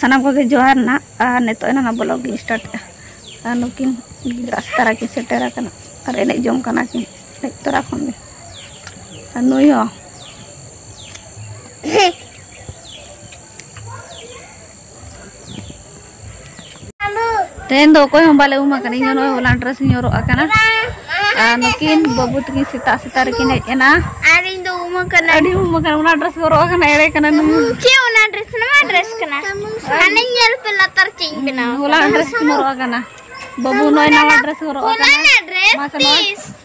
ᱥᱟᱱᱟᱢ ᱠᱚᱜᱮ ᱡᱚᱦᱟᱨ ᱱᱟᱜ ᱟᱨ ᱱᱤᱛᱚᱜ ᱮᱱᱟ ᱵᱞᱚᱜ ᱜᱤᱧ ᱥᱴᱟᱨᱴ ᱮᱫᱟ ᱟᱨ ᱱᱩᱠᱤᱱ ᱜᱤᱫᱽᱨᱟᱹ ᱥᱮᱛᱟᱨᱟ ᱠᱤᱱ ᱥᱮᱴᱮᱨ ᱟᱠᱟᱱᱟ ᱟᱨ ᱮᱱᱮᱡ ᱡᱚᱝ ᱠᱟᱱᱟ ᱠᱤᱱ ᱦᱮᱡ ᱛᱚᱨᱟ ᱠᱷᱚᱱ ᱜᱮ ᱟᱨ ᱱᱩᱭ ᱦᱚᱸ ᱛᱮᱦᱮᱧ ᱫᱚ ᱚᱠᱚᱭ ᱦᱚᱸ ᱵᱟᱞᱮ ᱩᱢ ᱟᱠᱟᱱᱟ ᱤᱧ ᱱᱚᱜᱼᱚᱭ ᱦᱚᱞᱟᱱ ᱰᱨᱮᱥ ᱤᱧ ᱦᱚᱨᱚᱜ ᱟᱠᱟᱱᱟ ᱟᱨ ᱱᱩᱠᱤᱱ ᱵᱟᱹᱵᱩ ᱛᱟᱹᱠᱤᱱ ᱥᱮᱛᱟᱜ ᱥᱮᱛᱟᱜ ᱨᱮᱠᱤᱱ ᱦᱮᱡ ᱮᱱᱟ ᱟᱨ ᱤᱧ ᱫᱚ ᱩᱢ ᱟᱠᱟᱱᱟ ᱟᱹᱰᱤ ᱩᱢ ᱟᱠᱟᱱᱟ ᱚᱱᱟ ᱰᱨᱮᱥ ᱦᱚᱨᱚᱜ ᱟᱠᱟᱱᱟ ᱮᱲᱮ ᱠᱟᱱᱟ ᱪᱮᱫ ᱚᱱᱟ ᱰᱨᱮᱥ ᱱᱚᱣᱟ ᱰᱨᱮᱥ ᱠᱟᱱᱟ ᱦᱟᱱᱮ ᱧᱮᱞ ᱯᱮ ᱞᱟᱛᱟᱨ ᱪᱮᱫ ᱤᱧ ᱵᱮᱱᱟᱣ ᱦᱚᱞᱟᱱ ᱰᱨᱮᱥ ᱤᱧ ᱦᱚᱨᱚᱜ ᱟᱠᱟᱱᱟ ᱵᱟᱹᱵᱩ ᱱᱚᱜᱼᱚᱭ ᱱᱟᱣᱟ ᱰᱨᱮᱥ ᱦᱚᱨᱚᱜ ᱟᱠᱟᱱᱟ ᱦᱚᱞᱟᱱ ᱰᱨᱮᱥ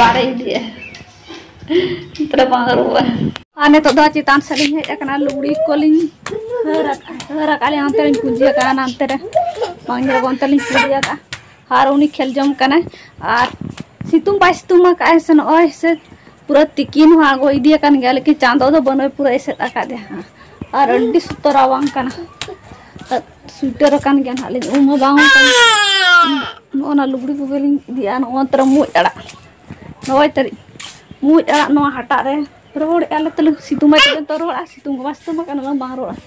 ᱵᱟᱨᱮ ᱤᱫᱤᱭᱟ ᱛᱟᱨ ᱵᱟᱝ ᱨᱩᱣᱟᱹ ᱟᱨ ᱱᱤᱛᱚᱜ ᱫᱚ ᱪᱮᱛᱟᱱ ᱥᱮᱫ ᱞᱤᱧ ᱦᱮᱡ ᱟᱠᱟᱱᱟ ᱞᱩᱜᱽᱲᱤ ᱠᱚᱞᱤᱧ ᱦᱟᱹᱨ ᱦᱟᱹᱨ ᱟᱠᱟᱫ ᱞᱤᱧ ᱚᱱᱛᱮ ᱞᱤᱧ ᱯᱩᱡᱟᱹ ᱟᱠᱟᱫᱼᱟ ᱱᱟᱱᱛᱮ ᱨᱮ ᱵᱟᱝ ᱧᱮᱞᱚᱜ ᱚᱱᱛᱮ ᱞᱤᱧ ᱯᱩᱡᱟᱹ ᱟᱠᱟᱫᱼᱟ ᱟᱨ ᱩᱱᱤ ᱠᱷᱮᱞ ᱡᱚᱝ ᱠᱟᱱᱟᱭ ᱟᱨ ᱥᱤᱛᱩᱝ ᱵᱟᱭ ᱥᱤᱛᱩᱝ ᱟᱠᱟᱫᱼᱟᱭ ᱥᱮ ᱱᱚᱜᱼᱚᱭ ᱥᱮ ᱯᱩᱨᱟᱹ ᱛᱤᱠᱤᱱ ᱦᱚᱸ ᱟᱬᱜᱚ ᱤᱫᱤ ᱟᱠᱟᱱ ᱜᱮᱭᱟ ᱞᱮᱠᱤᱱ ᱪᱟᱸᱫᱚ ᱫᱚ ᱵᱟᱹᱱᱩᱭ ᱯᱩᱨᱟᱹ ᱮᱥᱮᱫ ᱟᱠᱟᱫᱮᱭᱟ ᱦᱟᱸᱜ ᱟᱨ ᱟᱹᱰᱤ ᱥᱩᱛᱚᱨ ᱨᱟᱵᱟᱝ ᱠᱟᱱᱟ ᱥᱩᱭᱴᱟᱨ ᱟᱠᱟᱱ ᱜᱮᱭᱟ ᱦᱟᱸᱜ ᱞᱤᱧ ᱩᱢ ᱦᱚᱸ ᱵᱟᱝ ᱦᱩᱭ ᱠᱟᱱᱟ ᱱᱚᱜᱼᱚ ᱱᱟ ᱞᱩᱜᱽᱲᱤ ᱠᱚᱜᱮ ᱞᱤᱧ ᱤᱫᱤᱭᱟ ᱱᱚᱜᱼᱚ ᱛᱟᱨᱟ ᱢᱩᱡ ᱟᱲᱟᱜ ᱱᱚᱜᱼᱚᱭ ᱛᱟᱹᱨᱤᱡ ᱢᱩᱡ ᱟᱲᱟᱜ ᱱᱚᱣᱟ ᱦᱟᱴᱟᱜ ᱨᱮ ᱨᱚᱦᱚᱲᱮᱜᱼᱟ ᱞᱮ ᱛᱟᱹᱞᱤᱧ ᱥᱤᱛᱩᱝ ᱢᱟ ᱛᱟᱹᱞᱤᱧ ᱛᱚ ᱨᱚᱦᱚᱲᱟ ᱥᱤᱛᱩᱝ ᱠᱚᱢᱟ ᱥᱤᱛᱩᱝ ᱠᱟᱱᱟ ᱵᱟᱝ ᱨᱚᱦᱚᱲᱟ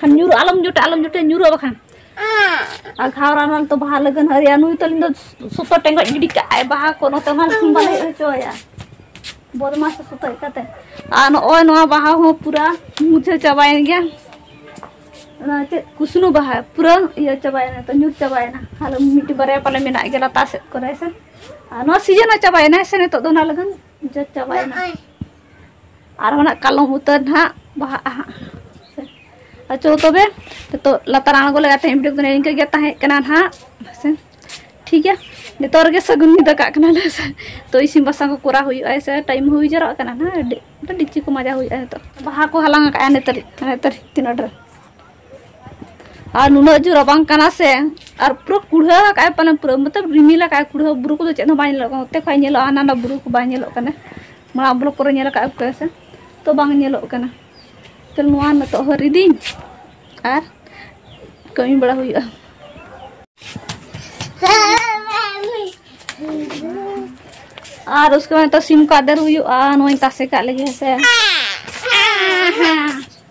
ᱠᱷᱟᱱ ᱧᱩᱨᱩ ᱟᱞᱚᱢ ᱡᱚᱴᱮ ᱟᱞᱚᱢ ᱡᱚᱴᱮ ᱧᱩᱨᱩ ᱵᱟᱠᱷᱟᱱ ᱟᱨ ᱜᱷᱟᱣᱨᱟ ᱱᱟᱞ ᱛᱚ ᱵᱟᱦᱟ ᱞᱟᱹᱜᱤᱫ ᱦᱟᱹᱨᱭᱟ ᱱᱩᱭ ᱛᱟᱹᱞᱤᱧ ᱫᱚ ᱥᱩᱛᱚ ᱴᱮᱸᱜᱚᱡ ᱜᱤᱰᱤ ᱠᱟᱜ ᱟᱭ ᱵᱟᱦᱟ ᱠᱚ ᱱᱚᱛᱮ ᱦᱚᱸ ᱵᱟᱞᱮ ᱦᱮᱡ ᱦᱚᱪᱚᱭᱟ ᱵᱚᱫᱢᱟᱥ ᱥᱩᱛᱚ ᱠᱟᱛᱮ ᱟᱨ ᱱᱚᱜᱼᱚᱭ ᱱᱚᱣᱟ ᱵᱟᱦᱟ ᱦᱚᱸ ᱯᱩᱨᱟ ᱢᱩᱪᱷᱟᱹ ᱪᱟᱵᱟᱭᱮᱱ ᱜᱮᱭᱟ ᱚᱱᱟ ᱪᱮᱫ ᱠᱩᱥᱱᱩ ᱵᱟᱦᱟ ᱯᱩᱨᱟ ᱤᱭᱟᱹ ᱪᱟᱵᱟᱭᱮᱱᱟ ᱛᱚ ᱧᱩᱨ ᱪᱟᱵᱟᱭᱮᱱᱟ ᱟᱞᱮ ᱢᱤᱫᱴᱤᱡ ᱵᱟᱨᱭᱟ ᱯᱟᱞᱮ ᱢᱮᱱᱟᱜ ᱜᱮᱭᱟ ᱞᱟᱛᱟᱨ ᱥᱮᱫ ᱠᱚᱨᱮ ᱥᱮ ᱟᱨ ᱱᱚᱣᱟ ᱥᱤᱡᱤᱱ ᱦᱚᱸ ᱪᱟᱵᱟᱭᱮᱱᱟ ᱥᱮ ᱱᱤᱛᱚᱜ ᱫᱚ ᱚᱱᱟ ᱞᱟᱹᱜᱤᱫ ᱡᱚᱛ ᱪᱟᱵᱟᱭᱮᱱᱟ ᱟᱨ ᱦᱚᱸ ᱠᱟᱞᱚᱢ ᱩᱛᱟᱹᱨ ᱱᱟᱦᱟᱜ ᱵᱟᱦᱟᱜᱼᱟ ᱦᱟᱸᱜ ᱟᱪᱚ ᱛᱚᱵᱮ ᱱᱤᱛᱚᱜ ᱞᱟᱛᱟᱨ ᱟᱬᱜᱚ ᱞᱮᱠᱟ ᱛᱮᱦᱮᱧ ᱵᱷᱤᱰᱤᱭᱳ ᱠᱚᱫᱚ ᱱᱤᱝᱠᱟᱹ ᱜᱮ ᱛᱟᱦᱮᱸ ᱠᱟᱱᱟ ᱱᱟᱦᱟᱜ ᱦᱮᱸᱥᱮ ᱴᱷᱤᱠ ᱜᱮᱭᱟ ᱱᱤᱛᱚᱜ ᱨᱮᱜᱮ ᱥᱟᱹᱜᱩᱱ ᱧᱤᱫᱟᱹ ᱠᱟᱜ ᱠᱟᱱᱟᱞᱮ ᱦᱮᱸᱥᱮ ᱛᱚ ᱤᱥᱤᱱ ᱵᱟᱥᱟᱝ ᱠᱚ ᱠᱚᱨᱟᱣ ᱦᱩᱭᱩᱜᱼᱟ ᱦᱮᱸᱥᱮ ᱴᱟᱭᱤᱢ ᱦᱩᱭ ᱡᱟᱣᱨᱟᱜ ᱠᱟᱱᱟ ᱱᱟᱦᱟᱜ ᱰᱤᱪᱤ ᱠᱚ ᱢᱟᱡᱟ ᱦᱩᱭᱩᱜᱼᱟ ᱱᱤᱛᱚᱜ ᱵᱟᱦᱟ ᱠᱚ ᱦᱟᱞᱟᱝ ᱟᱠᱟᱫᱼᱟ ᱱᱤᱛᱚᱜ ᱱᱤᱛᱚᱜ ᱛᱤᱱᱟᱹᱜ ᱰᱷᱮᱨ ᱟᱨ ᱱᱩᱱᱟᱹᱜ ᱡᱳᱨ ᱨᱟᱵᱟᱝ ᱠᱟᱱᱟ ᱥᱮ ᱟᱨ ᱯᱩᱨᱟᱹ ᱠᱩᱲᱦᱟᱹ ᱟᱠᱟᱫ ᱟᱭ ᱯᱟᱞᱮ ᱯᱩᱨᱟᱹ ᱢᱚᱛᱞᱚᱵ ᱨᱤᱢᱤᱞ ᱟᱠᱟᱫ ᱟᱭ ᱠᱩᱲᱦᱟᱹ ᱵᱩᱨᱩ ᱠᱚᱫᱚ ᱪᱮᱫ ᱦᱚᱸ ᱵᱟᱭ ᱧᱮᱞᱚᱜ ᱠᱟᱱᱟ ᱚᱛᱮ ᱠᱷᱚᱡ ᱧᱮᱞᱚᱜᱼᱟ ᱦᱟᱱᱟ ᱱᱟ ᱵᱩᱨᱩ ᱠᱚ ᱵᱟᱭ ᱧᱮᱞᱚᱜ ᱠᱟᱱᱟ ᱢᱟᱲᱟᱝ ᱵᱞᱚᱠ ᱠᱚᱨᱮ ᱧᱮᱞ ᱟᱠᱟᱫ ᱯᱮ ᱥᱮ ᱛᱚ ᱵᱟᱝ ᱧᱮᱞᱚᱜ ᱠᱟᱱᱟ ᱛᱚ ᱱᱚᱣᱟ ᱱᱤᱛᱚᱜ ᱦᱚᱸ ᱨᱤᱫᱤᱧ ᱟᱨ ᱠᱟᱹᱢᱤ ᱵᱟᱲᱟ ᱦᱩᱭᱩᱜᱼᱟ ᱟᱨ ᱩᱥᱠᱮ ᱵᱟᱫ ᱱᱤᱛᱚᱜ ᱥᱤᱢ ᱠᱚ ᱟᱫᱮᱨ ᱦᱩᱭᱩᱜᱼᱟ ᱱᱚᱣᱟᱧ ᱛᱟᱥᱮ ᱠᱟᱜ ᱞᱟᱹᱜᱤᱫ ᱦᱮᱸ ᱥᱮ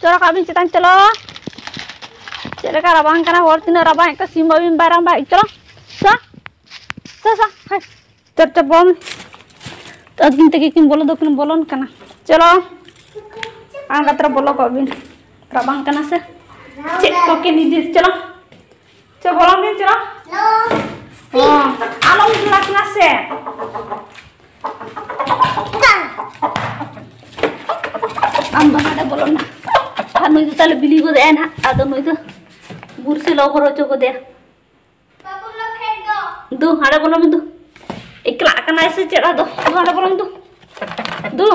ᱪᱚᱞᱚ ᱠᱟᱜ ᱵᱤᱱ ᱪᱮᱛᱟᱱ ᱪᱚᱞᱚ ᱪᱮᱫ ᱞᱮᱠᱟ ᱨᱟᱵᱟᱝ ᱠᱟᱱᱟ ᱦᱚᱲ ᱛᱤᱱᱟᱹᱜ ᱨᱟᱵᱟᱝ ᱮᱫ ᱠᱚᱣᱟ ᱥᱤᱢ ᱵᱟᱹᱵᱤᱱ ᱵᱟᱭ ᱨᱟᱵᱟᱝ ᱮᱫ ᱪᱚᱞᱚ ᱥᱟ ᱥᱟ ᱥᱟ ᱦᱟᱭ ᱪᱚᱯ ᱪᱚᱯ ᱵᱚᱢ ᱟᱹᱠᱤᱱ ᱛᱮᱜᱮ ᱠᱤᱱ ᱵᱚᱞᱚ ᱫᱚᱠᱤᱱ ᱵᱚᱞᱚᱱ ᱠᱟᱱᱟ ᱪᱚᱞᱚ ᱟᱬᱜᱟᱛ ᱨᱮ ᱵᱚᱞᱚ ᱠᱚᱜ ᱵᱤᱱ ᱨᱟᱵᱟᱝ ᱠᱟᱱᱟ ᱥᱮ ᱪᱮᱫ ᱠᱚᱠᱤᱱ ᱤᱫᱤ ᱪᱚᱞᱚ ᱪᱮ ᱵᱚᱞᱚᱱ ᱵᱤᱱ ᱪᱮᱨᱟ ᱟᱞᱚᱢ ᱡᱩᱲᱟ ᱠᱟᱱᱟ ᱥᱮ ᱟᱢ ᱫᱚ ᱱᱚᱰᱮ ᱵᱚᱞᱚᱱ ᱟᱨ ᱱᱩᱭ ᱫᱚ ᱛᱟᱦᱞᱮ ᱵᱤᱞᱤ ᱜᱚᱫ ᱮᱱ ᱦᱟᱸᱜ ᱟᱫᱚ ᱱᱩᱭ ᱫᱚ ᱵᱩᱨᱥᱮ ᱞᱚ ᱦᱚᱨᱚ ᱦᱚᱪᱚ ᱜᱚᱫᱮ ᱫᱩ ᱦᱟᱸᱰᱮ ᱵᱚᱞᱚᱱ ᱵᱤᱱ ᱫᱩ ᱮᱠᱞᱟ ᱠᱟᱱᱟᱭ ᱥᱮ ᱪᱮᱫ ᱟᱫᱚ ᱫᱩ ᱦᱟᱸᱰᱮ ᱵᱚᱞᱚᱱ ᱫᱩ ᱫᱩ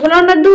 ᱵᱚᱞᱚᱱ ᱢᱮ ᱫᱩ